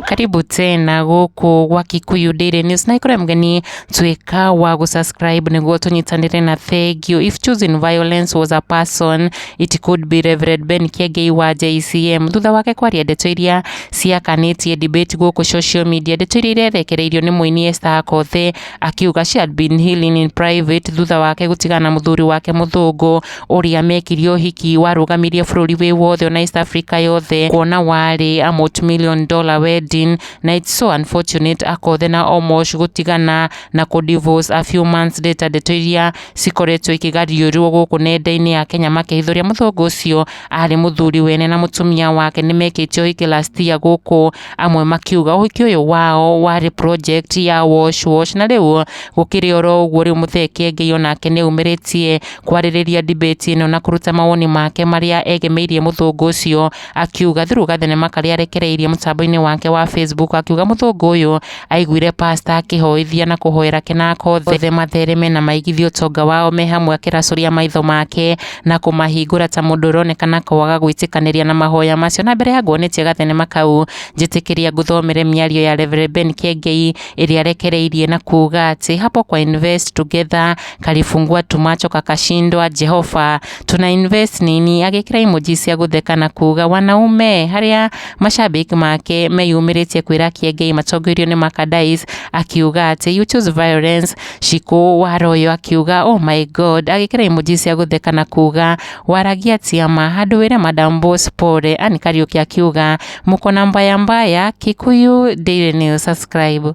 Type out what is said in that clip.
karibu tena gũkũ gwa Kikuyu Daily News na ikore mgeni twĩka wa gũsubscribe nĩguo tũnyitanĩre na thengio if choosing violence was a person it could be Reverend Ben Kiengei wa JCM thutha wake kwaria ndeto iria ciakanĩtie debate gũkũ social media ndeto iria irerekereirio nĩ mũini Esther Akothee Akiuga she had been healing in private thutha wake gũtigana na mũthuri wake mũthũngũ ũrĩa mekire ũhiki warũgamirie bũrũri wĩ wothe ona East Africa yothe kuona warĩ a multi-million dollar wedding na it's so unfortunate akothe na Omosh gũtigana na kũ divorce a few months later ndeto iria cikoretwo ikĩgariũrwo gũkũ nenda-inĩ ya Kenya makĩhithũria mũthũngũ ũcio arĩ mũthuri wene na mũtumia wake nĩmekĩte ũhiki last year gũkũ Amwe makiuga ũhiki ũyũ wao warĩ project ya wash wash, na rĩu gũkĩrĩ oro ũguo rĩu Mũthee Kiengei onake nĩ aumĩrĩtie kwarĩrĩria debate ĩno na kũruta mawoni make marĩa egemeirie mũthũngũ ũcio akiuga through gathenema karĩa arekereirie mũtambo-inĩ wake wa Facebook akiuga mũthũngũ ũyũ Aiguire pasta akĩhoithia na kũhoera kĩnaka othe mathereme na maigithie ũtonga wao me hamwe akĩracũria maitho make na kũmahingũra ta mũndũ ũronekana kwaga gwĩtĩkanĩria na mahoya macio. Na mbere ya nguonetie gathenema kau, njĩtĩkĩria ngũthomere mĩario ya Rev. Ben Kiengei ĩrĩa arekereirie na kuuga atĩ, Hapo kwa invest together, kalifungua tumacho kakashindwa, Jehova tuna invest nini? agĩkĩra emoji cia gũtheka na kuuga wanaume harĩa Mashabiki make meyumĩrĩtie kwĩra Kĩengei matongoirio nĩ Makadais akiuga atĩ you choose violence. Cikũ Waroyo akiuga oh my god agĩkĩra emoji cia gũtheka na kuga waragia tiama handũ wĩre madam boss pole. Ann Kariuki akiuga mukona mbaya mbaya. Kikuyu Daily News subscribe.